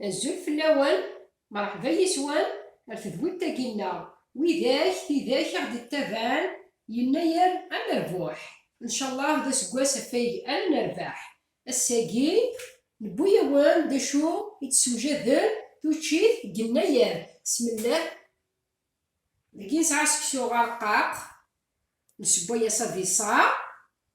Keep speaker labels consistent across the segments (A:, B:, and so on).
A: Azul fell-awen, merḥba yes-wen ar tedwilt-agi-nneɣ. Widak, tidak i ɣ-d-ittaban, yennayer ad nerbuḥ. Ncallah d aseggas afeg ara nerbeḥ. Ass-agi, newwi-awen-d d acu i d-ssewjaden tuččit deg yennayer, smellah. Dagi nesɛa seksu areqqaq, nesewway-as abiṣar.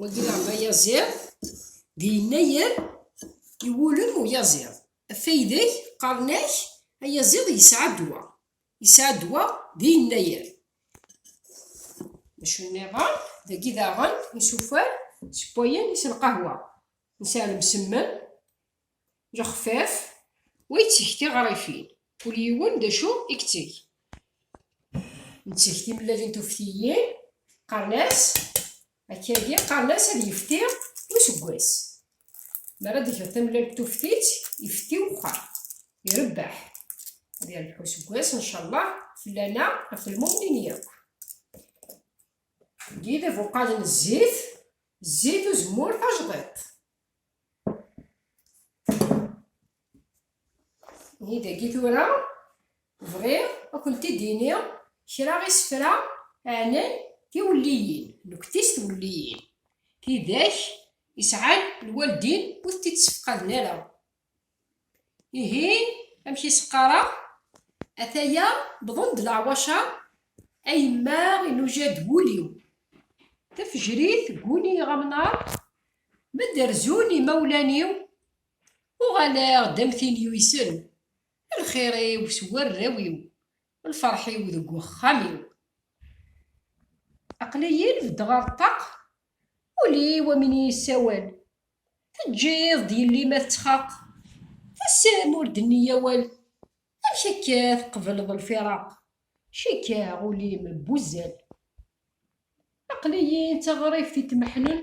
A: wagi leɛba ayaziḍ di yennayer iwulem uyaziḍ afaydeg qqaren-ak ayaziḍ yesɛa ddwa yesɛa ddwa di yennayer maca nniḍen dagi daɣen isufar sewwayen is lqahwa nesɛa lemsemmen lexfaf, wa yetteg tiɣrifin, kul yiwen d acu i yetteg. Netteg timellalin tuftiyin, qqaren-as akkagi, qqaren-as ad yefti useggas. Mi ara d-tgeḍ tamellalt tuftit, ifti wexxam, irebbeḥ. Ad yerbeḥ useggas, ncallah, fell-aneɣ, ɣef lmumnin yakk. Deg yidabuqalen zzit, zzit uzemmur tajdiṭ. Ni dagi tura bɣiɣ ad kent-id-iniɣ kra isefra ɛnan tiwelliyin, nektis tiwelliyin, tidak isɛan lwaldin ur tent-id-ssefqaden ara. Ihi, amek i s-qqareɣ? Ataya, wwḍen-d leɛwaca, a yemma inuja-d wul-iw. Tafejrit gguni-ɣ amnar, ma d-rezzun yimawlan-iw, uɣaleɣ-d am tin yuysen, lxir-iw s warraw-iw, lferḥ-iw deg uxxam-iw. Aql-iyi-n beddeɣ ɣer ṭṭaq, ul-iw am win yessawal, Teǧǧiḍ-d yelli ma tettxaq. Tessem ur d-nni awal. Amek akka tqebleḍ lfiraq. Cikkeɣ ul-im n wuzzal. Aql-iyi d taɣribt i tmeḥnen.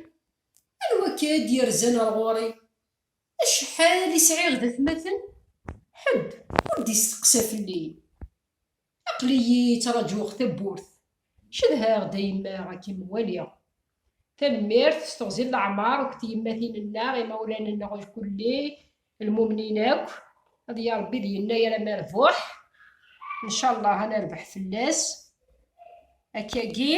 A: Anwa akka i d-yerzan ar ɣur-i. Acḥal i sɛiɣ d atmaten. Ḥedd ur d-isteqsa fell-i. Aql-iyi ttrajuɣ tawwurt. Cedhaɣ-d a yemma ad kem-waliɣ. Tanemmirt s teɣzi n leɛmer akked tyemmatin-nneɣ, imawlan-nneɣ lkulli, lmumnin akk. Ad ya Rebbi d yennayer a Merbuḥ. Ncallah ad nerbeḥ fell-as. Akkagi,